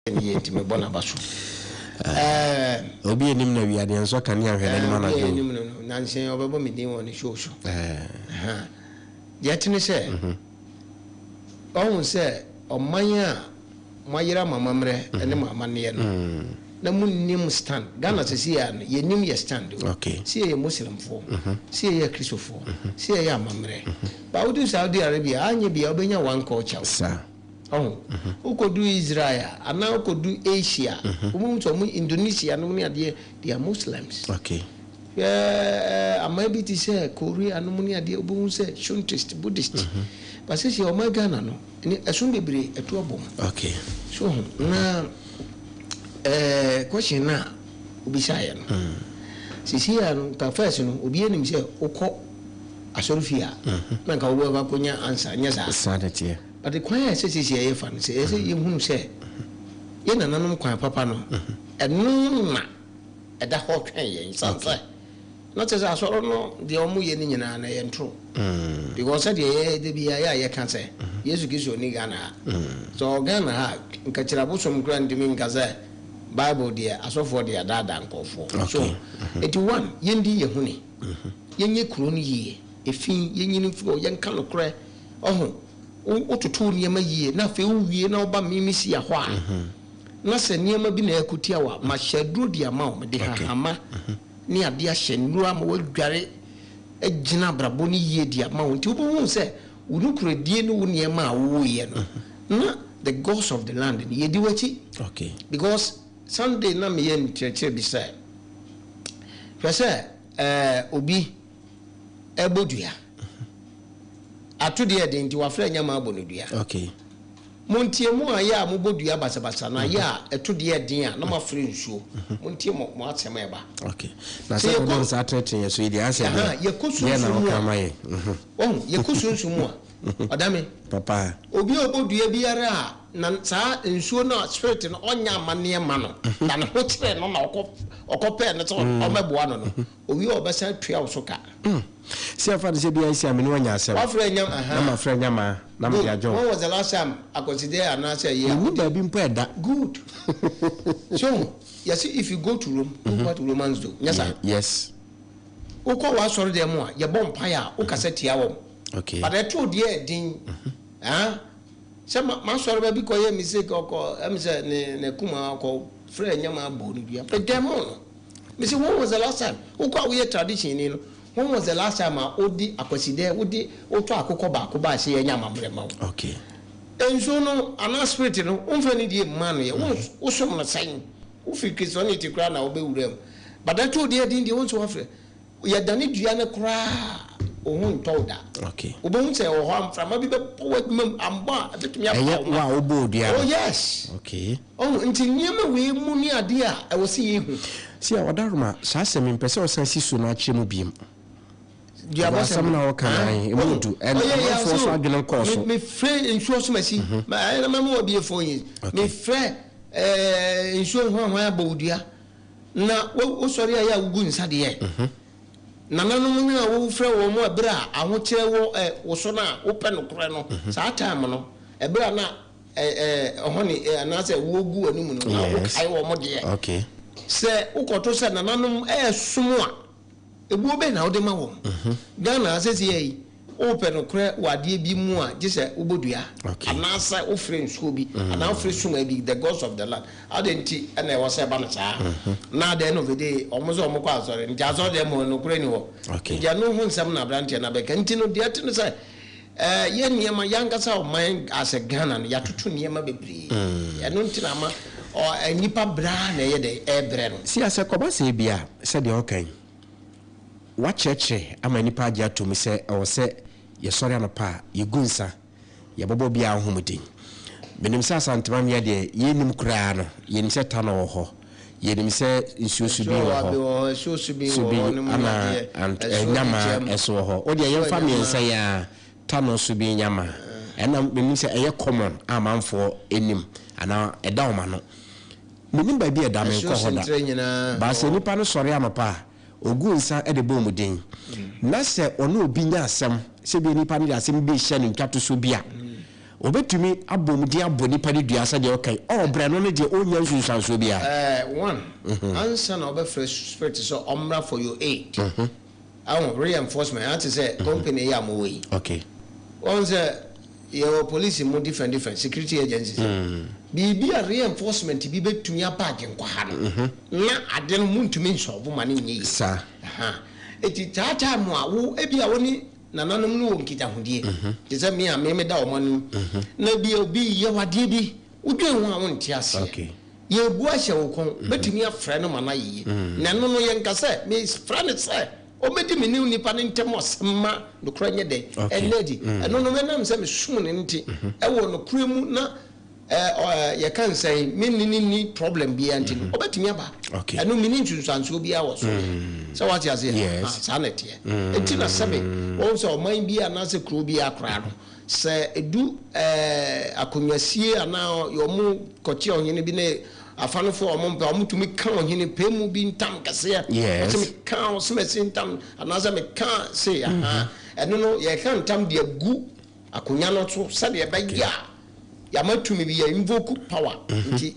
Wiɛ nti mebɔ n'abaso ɛɛh. Obi a ɛnim no awia deɛ nsɔ kanea nhwɛ n'anim anadwo o. Obi a ɛnim no no, nansa yi ɔbɛbɔ me din wɔ ne show so. Ɛɛh. Deɛ ɛte ne sɛ, wahu sɛ ɔman a moayera mo amammerɛ ne mo amanneɛ no, na monnim stand. Ghana seesei ara no, yɛnim yɛn stand o. Se yɛyɛ Muslimfoɔ, se yɛyɛ Akristofoɔ, se yɛyɛ amammerɛ. But woduru Saudi Arabia a, anyɛ biara wobɛnya one culture o. Ɔho. Wokodu Israel a, anaa wokodu Asia a, wobɛhu sɛ wɔn Indonesia nom ne adeɛ, they are Muslims. Okay. Hwɛ aman bi te sɛ Korea nom ne adeɛ, wobɛhu sɛ Shuntist, Buddhist. Ba sɛsi a ɔman Ghana no, ne ɛsom bebree atu abɔ mu. Okay. So ho. Na eh, question no a wobisaeɛ no, sɛsi a no, nka first no, obiara nim sɛ wokɔ asɔrefie a, na nka wobɛkɔ akɔnya answer, nyɛ saa? Saa na ɛteɛ. But kwan a ɛsɛ seesei a yɛfa no sɛ ɛsɛ yɛhunu sɛ yɛn nananom kwan papa no, ɛno na ɛda hɔ twɛn yɛn. Ɛsiane sɛ na kyerɛ sɛ asɔre no deɛ wɔyɛ no nyinaa no ɛyɛ ntoro. Because sɛdeɛ yɛ da biara yɛ a yɛka sɛ Yesu Kristo nni Ghana ha. Sɛ ɔwɔ Ghana ha a, nka kyiri abosom koraa ntumi nka sɛ Bible deɛ asɔfoɔ deɛ adaadaa nkurɔfoɔ. So nti one, yɛndi yɛn ho ni, yɛnyɛ kuro no yie, efi, yɛnyini mfiri hɔ, yɛnka nokorɛ. Ɔho, wo, wototo wo nneɛma yie na afei wowie na woba Mimisia hɔ a, na sɛ nneɛma bi na ɛreko tia wo a, mahyɛ aduro de ama wo. Mede hahama ne adeɛ ahyɛ nnuro ama woadware agyina abrabɔ no yie de ama wo. Nti wobɛhunu sɛ wo nokorɛdie ne wo nneɛma a woyɛ no, na the gods of the land no, yɛdi w'akyi. Because Sunday na meyɛ nkyerɛkyerɛ bi sɛ, hwɛ sɛ ɛɛ, obi. ɛbɔ dua. Ato deɛ ɛden nti wafrɛ nyɛ ma abɔ no dua. Okay. Montie mo a yɛ a mobɔ dua basabasa na yɛ a ɛto deɛ ɛden a na moafrɛ nsuo. Mhm. Montie mo mo asɛm a ɛba. Okay. Na sɛ yɛkɔ nsa atenetene yɛ so yi deɛ asɛ deɛ yɛkɔ sunsun mu a. Mhm. Wɔn yɛkɔ sunsun mu a. Mhm. Ɔdame. Papa. Obi a ɔbɔ dua biara a na saa nsuo no a spirit no ɔnyɛ amanneɛ ma no na ne ho kyerɛ no na ɔkɔ ɔkɔ pɛɛ no sɛ ɔmɛboa no no Owie a ɔbɛsan tua wo so ka. Hmm. Se yɛmfa no sɛ biaa nsi a me ne wo anya asɛm. Wafrɛ anyam ahaa. Na mafrɛ anyam aa. Na mede agyɛ wo. Good. When was the last time Akwasi dɛ anaasɛ ɛyɛ a wode. Mennim baabi mpo a ɛda. Good. So hu, yɛse if you go to Rome, do what Romans do. Nyɛ saa? Yeah. Yes. Wokɔ w'asɔredɛm mu a, yɛbɔ mpaeɛ a, wokasa tia wɔn. Okay. But ɛtoo deɛ yɛ den. Haa. Sɛ ma, m'asɔreba bi kɔyɛɛ mistake, ɔkɔ, ɛm sɛ ne, n'akuma, ɔkɔ frɛɛ anyam aa bɔɔ no dua. Medɛmoo no. Mese when was the last time wo kɔ a woyɛ tradition ni no when was the last time a wode akwasidɛ wode wotɔ akokɔ baako bae sɛ yɛnyɛ amammerɛ ma wo. Okay. Nsuo no anaa spirit no womfa anidie mma no yɛ wons wosom no sɛn? Wofiri Christianity koraa na wobɛwura mu but ɛtoo deɛ din deɛ wonsi wafrɛ. Yɛdane dua no koraa a, wo ho ntɔ wo da. Wobɛhu sɛ ɛwɔ hɔ a, mframa bi bɛbɔ w'adwuma mu, ammɔ a, ɛbɛtumi apa wo ma. Ɛyɛ wo a wobɔɔ dua no? Oh, yes. Okay. Ɔho, nti nneɛma wei mu ne adeɛ a ɛwɔ sɛ yɛhu. See a, Ɔdaroma, saa asɛm yi, mpɛ sɛ ɔsan si so na akyerɛ mu bio. Duabɔ sɛm. Asɛm na ɔka na ahe, ɛmu du, ɛna amanfoɔ so adwene nkɔɔ so. Me frɛ nsuo so masi, ɛna mɛma wɔ bie four years. Me frɛ nsuo hwan hwan abɔ wo dua. Na wo sɔre a yɛ a wo gu nsa deɛ. Nananom no a wo frɛ wɔn a bere a ahokyerɛ wɔ ɛ wo so no a wo pɛ nokorɛ no saa time no ɛbere a na ɛ ɛ ɔhɔne ɛ anaasɛ wo gu w'anim no na wo kae wɔn deɛ. Sɛ wo kɔto sɛ nananom ɛɛsom a. Ebuo bɛn na wode ma wɔn? Ghana ha seesei yi, wopɛ nokorɛ wɔ adeɛ bi mu a, gye sɛ wobɔ dua anaasɛ wofrɛ nsuo bi anaa wofrɛ suma bi, the gods of the land. Adɛn nti na ɛwɔ sɛ ɛba no saa? Na at the end of the day, wɔn sɛ wɔkɔ asɔre, nti asɔre deɛ mmom nokorɛ nni hɔ. Nti ɛno ho nsɛm na aberanteɛ no abɛka. Nti no, deɛ ɛte ne sɛ, Yɛn nneɛma, yɛn ankasa ɔman as Ghana no yɛatoto nneɛma bebree, ɛno nti na ama nnipa brɛ ara na ɛyɛ dɛn, ɛrebrɛ no. Sia sɛ kɔba sɛ ebia sɛdeɛ ɔreka yi, wɔakyerɛkyerɛ ama nnipa agye atom sɛ ɛwɔ sɛ yɛsɔre anɔpa a yɛgu nsa, yɛbɔbɔ obiara ho mmɔden. Menim sɛ Asantewam yɛ deɛ yɛnnim koraa no, yɛnim sɛ tanɔ wɔ hɔ. Yɛnim sɛ nsuo su bi wɔ hɔ, su bi ana nyama nso wɔ hɔ. Wodeɛ yɛmfa mmiɛnsa yi ara, tano, su bi, nyama. Ɛna menim sɛ ɛyɛ common a manfoɔ nim anaa ɛda wɔn ano. Menim baabi a ɛda, menkɔ hɔ da. But sɛ nipa no sɔre anɔpa a, ɔgu nsa de bɔ wɔn din. Na sɛ ɔne obi nya asɛm, sɛ ebia nipa no de asɛm bi rehyɛ no ntwatosoɔ bi a, Wɔbɛtumi abom de abɔ nipa no dua sɛdeɛ ɔkan, ɔɔbrɛ no ne deɛ ɔnnya nsunsuansoɔ biara. Eh, one, ansa na wɔbɛfrɛ spirit sɛ ɔmmra for your aid, wahu, reinforcement, ha te sɛ company yi a mo wɔ yi. Okay. Wahu sɛ yɛwɔ police mu different different security agencies. Biribi a reinforcement bi bɛtumi aba Agyenkwa ha no, na ade no montumi nsɔlvo ma no nyɛ yie. Saa. Aha. Enti that time a wo, ebia wo ne. nananom no wɔ nkitahodie te sɛ me a me meda wɔn anim na ebia obi yɛ wo adeɛ bi wodwen ho a wonte aseɛ yɛrebu ahyɛ wo kɔn bɛtumi afrɛ no ma no ayɛ yie na ɛno no yɛnka sɛ mefrɛ no sɛ ɔmmɛdi me ne nnipa no ntam asɛm ma nokorɛ nyɛ dɛn ɛnna adi ɛno no ɛnam sɛ mesom no nti ɛwɔ nokorɛ mu na yɛka no sɛn, me ne no nni problem biara nti no, mm-hmm. ɔbɛtumi aba. Ɛno menni nsunsuansoɔ biara wɔ so. Mm. Sɛ wate aseɛ? Ah, saa na ɛteɛ. Ɛnti mm. na sɛbe, wɔn sɛ ɔman bi anaasɛ kuro biara koraa no, sɛ ɛdu akonnwasie anaa wɔn kɔkye ɔhene bi ne afanofo a wɔn mpɛ wɔn tumi ka ɔhene pɛɛ mu bi ntam kɛseɛ wɔsɛ mi ka ɔsɛmɛsi ntam anaasɛ mi ka se aha ɛno no yɛka ntam de agu Akonwa no so sɛdeɛ ɛbɛyɛ a yɛama tumi bi yɛ invoke power mhm. nti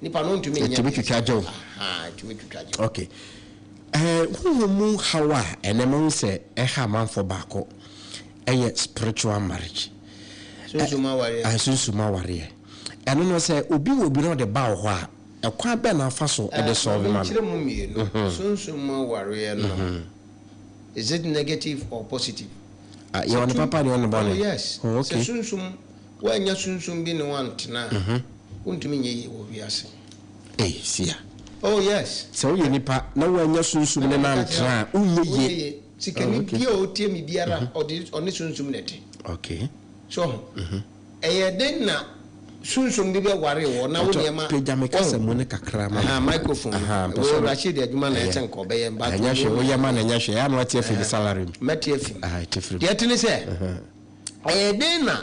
nipa no ntumi nyɛ ɛtumi twitwa gyew ɛtumi twitwa gyew okay ɛɛ eh, huhu mu haw a ɛnɛ mo sɛ ɛha amanfoɔ baako ɛyɛ spiritual marriage sunsuma awareɛ eh, sunsuma awareɛ ɛno no sɛ obi wɔ obi na ɔde ba wɔ hɔ a ɛkwan bɛn na afa so ɛde eh, sɔɔ bi ma no. ɛkyerɛ mu mmienu mhm. sunsuma awareɛ no. Mhm. Is it negative or positive? Ah, yɛwɔ ne papa ne yɛwɔ ne bɔne. Oh yes. Oh, okay. Sɛ sunsum, woannya sunsum bi ne woantena a, wontumi nyɛ yie wɔ wiase. Ei, sia. Oh yes. Sɛ woyɛ nipa na woannya sunsum no na antena a, wonyɛ yie. Wonyɛ yie. Sikani Oh, okay. bi a ɔtie me biara, ɔde, ɔne sunsum na ɛte. Okay. So ho? Ɛyɛ den na sunsum bi bɛ ware wɔ na wo Patɔ nneɛma pagya me wɔn. kasa mu no kakra ma me. Ahaa microphone no. Ahaa, mpɛ Wei sɛ ɔno. Rashid adwuma na Ɛyɛ. ɛsen kɔ bɛyɛ mba Ɛnyɛ hwee, wo yɛ ma no ɛnyɛ hwee. Ɛyɛ a na wate afi me salary mu. Mɛte afi mu. Ahaa, te firi mu. Deɛ ɛte ne sɛ, ɛyɛ den na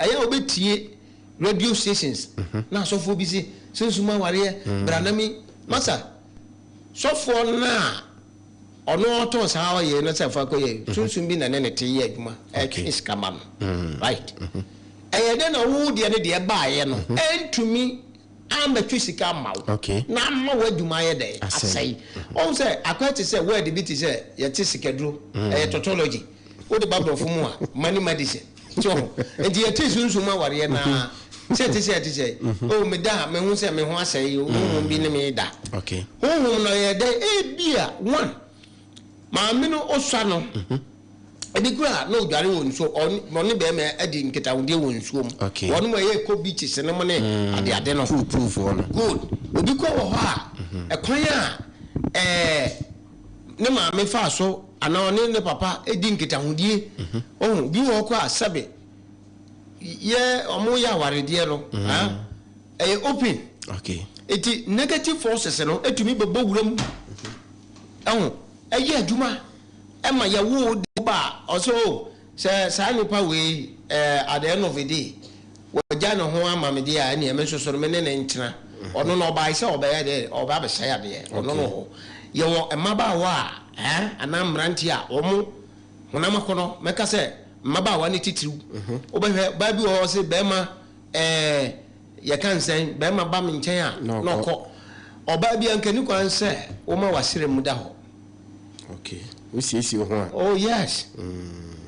ɛyɛ a wo bɛ tie radio stations na asɔfoɔ bi se sunsum awareɛ bra na me masa sɔfoɔ no a. Ɔno ɔtɔn saa ɔyɛ no sɛ fa kɔ yɛ sunsun bi na ne ne te yɛ adwuma ɛtwe sika ma no right ɛyɛ dɛ na wo deɛ ne deɛ baayɛ no ɛntumi amɛtwe sika ama wo na ama wo adwuma ayɛ dɛ asɛe ɔhu sɛ akɔɛ te sɛ word bi te sɛ yɛte sikaduro ɛyɛ tautology. Wo de ba brɔfo mu a money medicine so ho nti yɛte sunsum mu awareɛ no ara sɛ ɛte sɛ ɛte sɛ oh meda a mehu sɛ me ho asɛe yi honhom bi ne me da honhom no ɔyɛ dɛ ebia one maame no osua no ebi kura na odware wɔ nsuo ɔne bɛrima adi nkitahodie wɔ nsuo mu wɔn mu ɛyɛ kɔ beaches no mu ne ade ade no good obi kɔ wɔ hɔ a ɛkwan a ɛɛ. ne maame faa so anaa ɔne ne papa di nkitahodie. Ohu, bi wɔ hɔ koraa sɛbe yɛ ɔmo yɛ awaredeɛ no, ah, ɛyɛ open. Okay. Eti negative forces no etumi bɛbɔ wura mu, ɛho, ɛyɛ adwuma, ɛma yɛwoo de wo ba a, ɔsɛ oh, Sɛ saa nipa wei eh, at the end of the day, wagya ne ho ama me deɛ a, ɛneɛ me nso so no, me ne no ntena. Ɔno no, ɔbae sɛ ɔbɛyɛ dɛ, ɔreba abɛsɛe adeɛ. Ɔno no hɔ. Yɛwɔ mmabaawa a, eh, anaa mmeranteɛ a, wɔn honam akɔnnɔ, mɛka sɛ mmabaawa ne titiriw. Wobɛhwɛ, baa bi wɔ hɔ, ɔse barima, eh, yɛka no sɛn, barima ba me nkyɛn a, na ɔkɔ. Ɔbaa bi a, anka ɛnni kwan sɛ woma w'asram mu da hɔ. Okay, wo siesie wo ho a. Oh yes,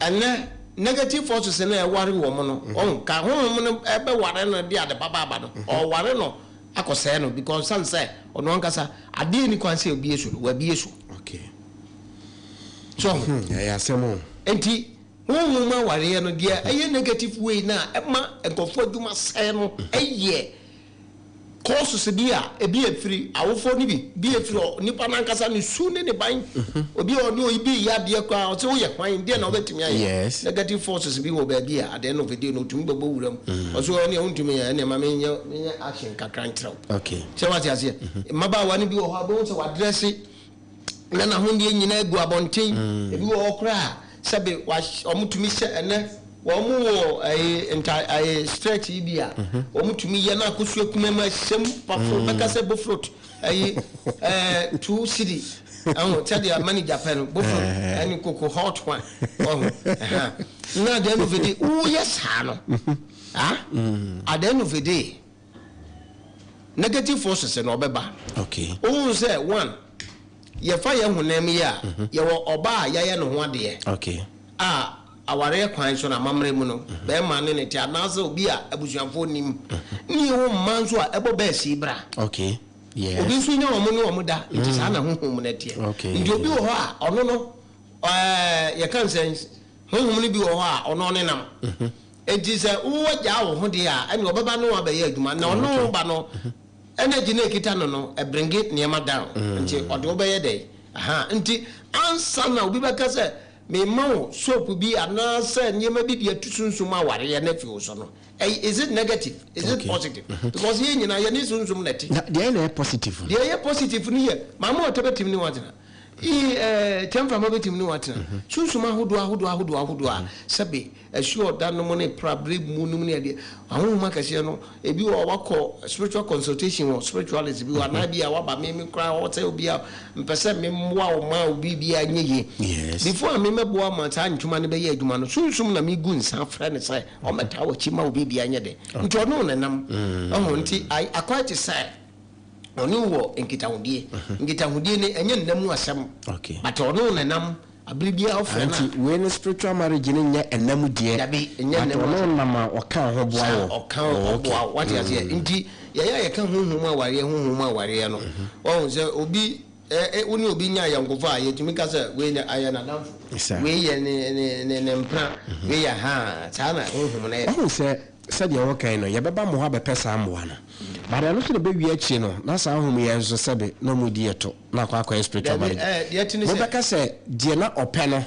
ɛnɛ negative forces no a ɛware wɔn no, ɔnka honhom no bɛware no de ade papa aba no, ɔware no akɔsɛe no because sane sɛ ɔno ankasa adeɛ nni kwan sɛ obie so no, wabie so. Okay. So ɔho. Hmm, ɛyɛ asɛm o. Enti, honhom awareɛ no, deɛ ɛyɛ negative way no a ɛma nkurɔfoɔ adwuma sɛe no yɛ Causes bi a ebi yɛ firi awofoɔ no bi, ebi yɛ firi nipa no ankasa ne su ne ne ban. Obi a ɔne oyi bi reyɛ adeɛ koraa ɔse woyɛ hwan, deɛ na wobɛtumi ayɛ? Yes. Negative forces bi wɔ baabi a at the end of the day no ɔtumi bɛbɔ wura mu. Ɔse wo ɛneɛ wontumi yɛ, ɛneɛ ma menyɛ menyɛ action kakra nkyerɛ wo. Okay. Sɛ wate aseɛ? Mmabaawa no bi wɔ hɔ a wobɛhu sɛ wadrɛse, na n'ahonneɛ nyinaa gu abɔnten. Ebi wɔ hɔ koraa a, sɛbe wɔtumi hyɛ ɛnɛ, wɔwɔ ɛyi nta ɛyi stretch yi bi a, wɔtumi yɛ na akosua kuma mu ahyɛ mu pafo bɛka sɛ bofrot ɛyi ɛɛ two cedi ɛho sɛdeɛ manager pɛ no bofrot ɛne koko hot one ɔho ɛha na at the end of the day woyɛ saa no ah at the end of the day. Negative forces na ɔbɛba. Okay. Wohun sɛ one, yɛfa yɛn honam mu yi a, mhm. yɛwɔ ɔbaa a yɛayɛ ne ho adeɛ. Okay. A awareɛ kwan so na amammerɛ mu no, mhm. bɛrima ne ne te anaasɛ obi a abusuafoɔ nim. Mhm. Ne yɛwɔ mmaa nso a ɛbɔ bɛɛ sii bra. Okay. Yes. Obi nso nya wɔn ne wɔn da, nti saa na honhom mu no teɛ. Okay. Nti obi wɔ hɔ a, ɔno no, ɛɛ yɛka nsɛn, honhom no bi wɔ hɔ a, ɔno ɔnenam. Enti sɛ wo agya awo ho deɛ a, ɛne ɔbɛba ne wo abɛyɛ adwuma, na ɔno wo ba no energy no ɛkita no no bringe nneɛma down, nti ɔde wo bɛyɛ dɛn? Aha, nti ansa na obi bɛka sɛ mema wo soap bi anaasɛ nneɛma bi de atu sunsum awareɛ no afi wo so no, ɛy is it negative? Is it positive? Because yɛn nyinaa yɛne sunsum na ɛte. Na deɛ na ɛyɛ positive no? Deɛ ɛyɛ positive no yɛ maame ɔtɛ bɛtumi ne wo atena, ii ɛɛ Kyɛmframa bɛtumi ne wo atena, sunsum ahodoɔ ahodoɔ ahodoɔ ahodoɔ a sɛbe, Ɛhyeɛ ɔda nom ne pra berɛ mu nom ne adeɛ ahonhom akɛseɛ no ebi wɔ hɔ a wakɔ spiritual consultation wɔ spiritualist bi hɔ anaa bi a waba me me koraa hɔ sɛ obi a mpɛ sɛ me mmoa wo ma wo biribi a nyɛ yie before a me mɛboa ma saa ntoma no bɛyɛ adwuma no sunsum na me gu nsa frɛ no sɛ ɔmmɛtaa w'akyi ma wo biribi a nyɛ den nti ɔne wo nenam ɔho nti I quite sɛ Ɔne wo wɔ nkitahodie. Nkitahodie no ɛnyɛ nna mu asɛm but ɔne wo na ɛnam abere biara wo frɛ no a. Nti wei no spiritual marriage no nyɛ ɛnna mu deɛ. Dabi ɛnyɛ ɛnna mu asɛm. But ɔne wo nam a ɔka wo ho boa wo. Saa ɔka wo ho boa wo wate aseɛ nti yɛyɛ a yɛka honhom mu awareɛ honhom mu awareɛ no wahu sɛ obi eh wo ne obi nya ayɔnkofa a yɛtumi ka sɛ wei deɛ ayɛ n'adamfo wei yɛ ne ne ne mpena wei yɛ haa saa na honhom no yɛ. Wahu sɛ sɛdeɛ ɛwɔ kan no, yɛbɛba mo hɔ abɛpɛ saa mmoa no. But ɛno nso na ɛbɛwie akyire no, na saa ahum yi nso sɛbe na wɔn redi ɛto, na akɔ akɔyɛ spiritual Daabi, marriage. ɛɛ, deɛ ɛte ne sɛ- Mobɛka sɛ, Deɛ na ɔpɛ no,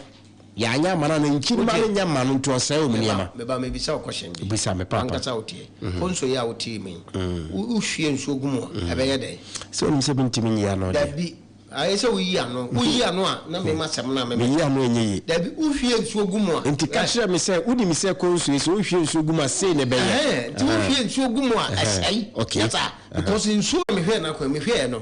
yɛanyɛ amma no, anaa nkyiri mma no nyɛ mma no, nti ɔsɛe wɔn Meba, nneɛma. meba mebisa wo question bi. Bisa me, Paapa. W'ankasa woteɛ. Konso yi a wote yi mu yi, wo- wohwie nsuo gu mu a, ɛbɛyɛ dɛn? Sɛ wonim sɛ mentumi nyi ano deɛ. Daabi. Ayɛ sɛ woyi ano. Woyi ano a, na mema asɛm no a memeka. Meyi ano a, ɛnyɛ yie. Dabi, wohwie nsuo gu mu a. Enti ka kyerɛ me sɛ, Wonim sɛ ɛkɔm nsuo yi, sɛ wohwie nsuo gu mu a, sei na ɛbɛyɛ. Ɛhɛn, enti wohwie nsuo gu mu a, ɛsɛe. Ɛhɛn, okay. Nyɛ saa, ɛhɛn. Because nsuo a mehwɛɛ no akwan, mehwɛɛ no.